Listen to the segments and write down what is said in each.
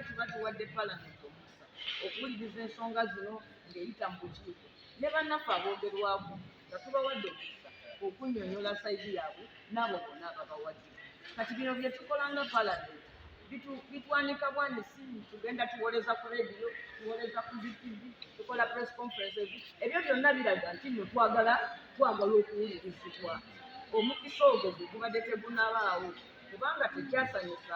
Tuba tuwadde Palamenti omukisa okuwuliriza ensonga zino ng'eyita mu bukiiko ne bannaffe aboogerwako nga tubawadde omukisa okunnyonnyola sayizi yaabwe n'abo bonna ababawadde. Kati bino bye tukola nga Palamenti bitwanika bwani si tugenda tuwoleza ku rediyo tuwoleza ku zitv tukola press conferences ebyo byonna biraga nti no twagala twagala okuwulirizibwa omukisa ogwo gwe gubadde tegunabaawo kubanga tekyasanyusa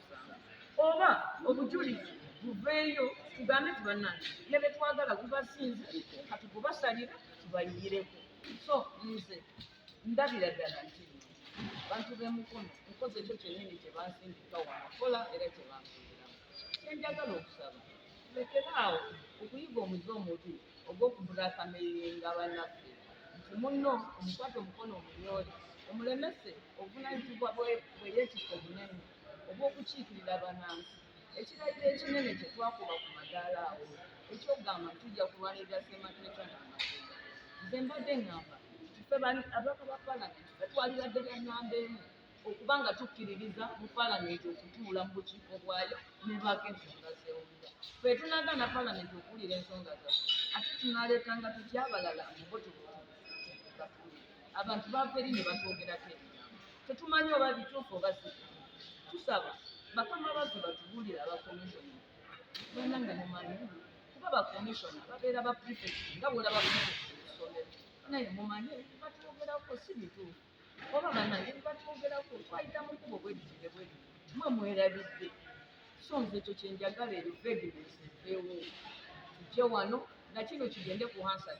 oba obujulizi buveeyo tugambe ti bannange ne be twagala gubasinze kati gubasalira tubayiyireko so nze ndabira ddala nti abantu b'emukono nkoze ekyo kyennyini kye bansindika wanakola era kye bansuubiramu kyenjagala okusaba lekeraawo okuyiga omuze omubi ogw'okuvuga akameyuli nga banaffe nti munno omukwate omukono omunyoole omulemese obuvunanyizibwa bwe bweyetikka obunene obw'okukiikirira banansi ekirayiro ekinene kye twakuba ku madaala awo eky'okugamba nti tujja kulwanirira ssemateeka n'amateeka nze mbadde ngamba nti ffe ababaka ba palamenti ffe twalibadde ba namba emu okuba nga tukkiririza mu palamenti okutuula mu bukiiko bwayo nebaako ensonga zewulira fe tunagaana palamenti okuwulira ensonga zaffe ate tunaleetanga tutya abalala mubotobatulire abantu bava eri ne batwogerako ebigambo tetumanyi oba bituufu oba si tusaba bakama baffe batubuulire abakomishona bananga mumanyi kuba bakomishona babeera ba prefect nga bwolaba prefect esomero naye mumanyi batwogerako si bituufu oba bannange bibatwogerako twayita mu kubo bweditire bwe mwe mwerabidde so nze ekyo kyenjagala eyo vedinesi ewo tujje wano nakino kigende ku hansa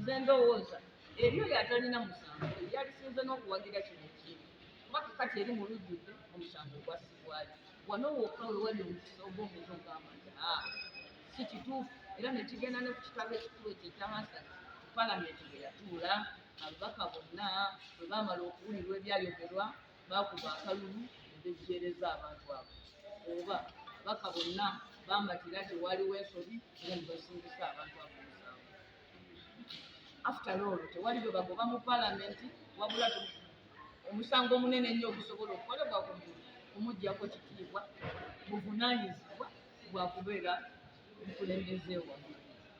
nze ndowooza eri oyo atalina musango yalisinze n'okuwagira kino ekintu kuba kakati eri mu lujjudde omusango gwasibwali wano wokka wewali omukisa oba omuntu ogamba nti a ah, si kituufu era nekigenda ne ku kitabo ekikulu ekyo ekya hansa palamenti bwe yatuula Ababaka bonna bwe baamala okuwulirwa ebyayogerwa, baakuba akalulu ne bejjeereza abantu abo. Oba, ababaka bonna baamatira nti waaliwo ensobi era ne basingisa abantu abo omusango. After all, tewali gwe bagoba mu Palamenti wabula omusango omunene ennyo ogusobola okukolebwa ku muntu kumuggyako kitiibwa buvunaanyizibwa bwa kubeera mukulembeze wamu.